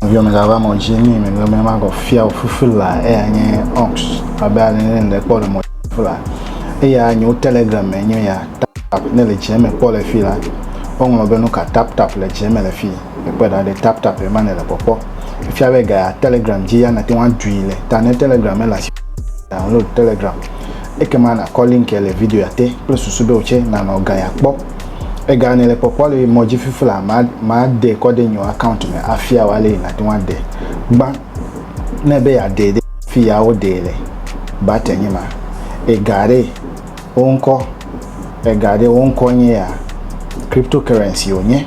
Nɔviɔ megava mɔ dzi ni megbe me magɔ fia o fufu la eya nye ox abe ale ne le kpɔ le mɔ fufu la eya nyo telegram me nyo ya tap tap ne le dze me kpɔ le fi la woŋlɔ be nuka tap tap le dze me le fi ekpe ɖa ɖe tap tap ema ne le kpɔkpɔ efia be ga telegram dzi ya nate ŋu adui le ta ne telegram mele asi download telegram ekema nakɔ link le video ya te kple susu be wotse nanɔ ga ya kpɔ Ega ne le kpɔkpɔ le mɔ dzi fifi la, ma ma de kɔ de nyo account me afia wa le na te wa de. Gba ne be ya de de fi ya wo de le ba te nye ma. Ega re wo ŋkɔ ega re wo ŋkɔ nye ya cryptocurrency wo nye.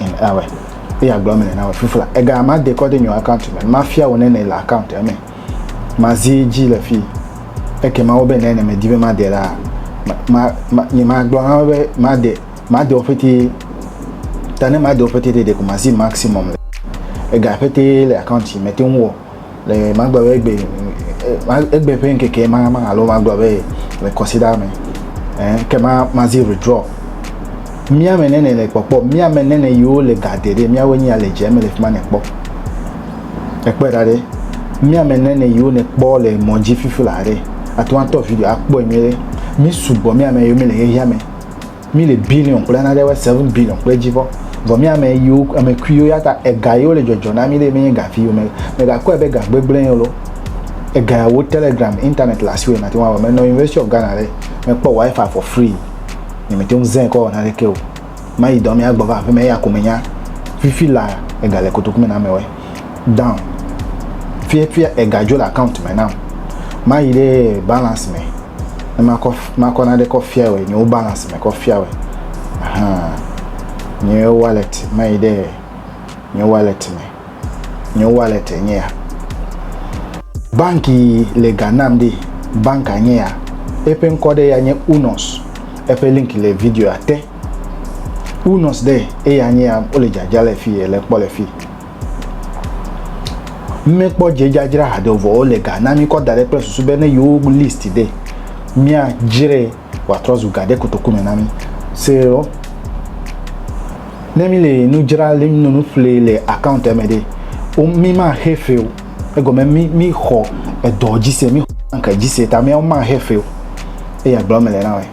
in ewe eya gblɔ me na we fifla ega ma de kɔde nyo account me ma fia wo nene le account eme ma zi ji le fi eke ma wo be nene me di be ma de la ma ma ni ma gblɔ ha be ma de ma de ofete tane ma de ofete de de ko ma zi maximum le ega fete le account me te wo le magblɔ be egbe egbe ƒe ŋkeke ma ma alo magblɔ be le kɔsida me eh, ke ma ma zi withdraw mía me nene le kpɔkpɔ mía me nene yiwo le ga de ɖe míawo nyia le dze me le fi ma ne kpɔ ekpɔe ɖa ɖe mía me nene yiwo ne kpɔ le mɔ dzi fifi la ɖe atɔ atɔ video akpɔe nyuie ɖe mi sugbɔ mía me yiwo mi le xexea me Mi le billion kple nane be seven billion kple dzi vɔ. Vɔ mi ame yiwo ame kuiwo ya ta ega yiwo le dzɔdzɔ na mi ɖe menye ga viwo me. Me ga kpɔe be ga gbegblẽ ye lo. Ega ya wo telegram internet le asi wo nate ŋu awɔ. Me nɔ University of Ghana ɖe me kpɔ wifi for free. Nye me te ŋu zɛ kɔ wɔ naneke o. Mayi dɔ me agbɔ va aƒeme eya ko me nya. Fifi la ega le kotoku me na ame wɛ. down ƒiaƒia ega dzo le account me nam mayi ɖe balance me ne makɔ makɔ naɖe kɔ fia wɔ nyewo balance me kɔ fia wɔ ahan nye wallet mayi ɖe nye wallet me nye wallet nye ya banki le ga nam ɖe banka nye ya eƒe ŋkɔ ɖe ya nye unos eƒe link le video ate unos ɖe eya nye ya wole dzadza le fi le kpɔ le fi Mímekpɔ dzedzadzra hadovoawo le ga na mí kɔ da ɖe kple susu be ne yewo list ɖe, míadzrae wòatrɔ zu ga ɖe kotoku me na mí. Seɔ, Ne míle nu dzra le nɔ nu ƒlee le akauntia me ɖe, mímaxe fe o. Egɔme mí míxɔ edɔ dzi se, míxɔ banki dzi se ta míawo maxe fe o. Eya gblɔm mele na wòe.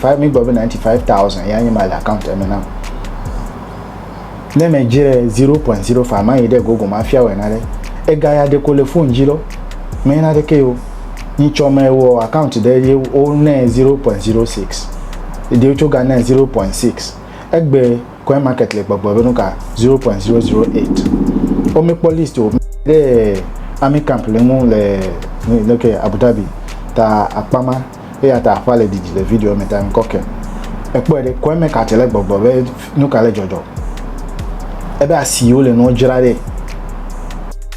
Five mi gba be ninety five thousand ya nye ma le account eme nam. Ne me dzre zero point zero five ma yi ɖe gogo ma fia wɔ na ɖe. Ega ya ɖeko le phone dzi lɔ. Me yi na ɖe ke yo. Ni tsɔ me wɔ account ɖe ye wo ne zero point zero six. Ede yo tso ga ne zero point six. Egbe coin market le gbɔgbɔ be nuka zero point zero zero eight. O me kpɔ list o. Ɖe ami camp le ŋu le le ke Abu Dhabi ta akpama. eya ta aƒa le didi le video me ta ŋkɔ ke ekpɔe ɖe kɔe me kati le gbɔgbɔ be nu ka le dzɔdzɔ ebe asi wo le nua dzra ɖe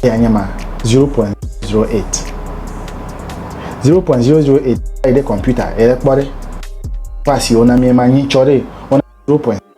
ya nye ma 0.08 0.008 ɖe kɔmputa ele kpɔ ɖe ƒe asi wo na mi ma nyi tsɔ ɖe 0.0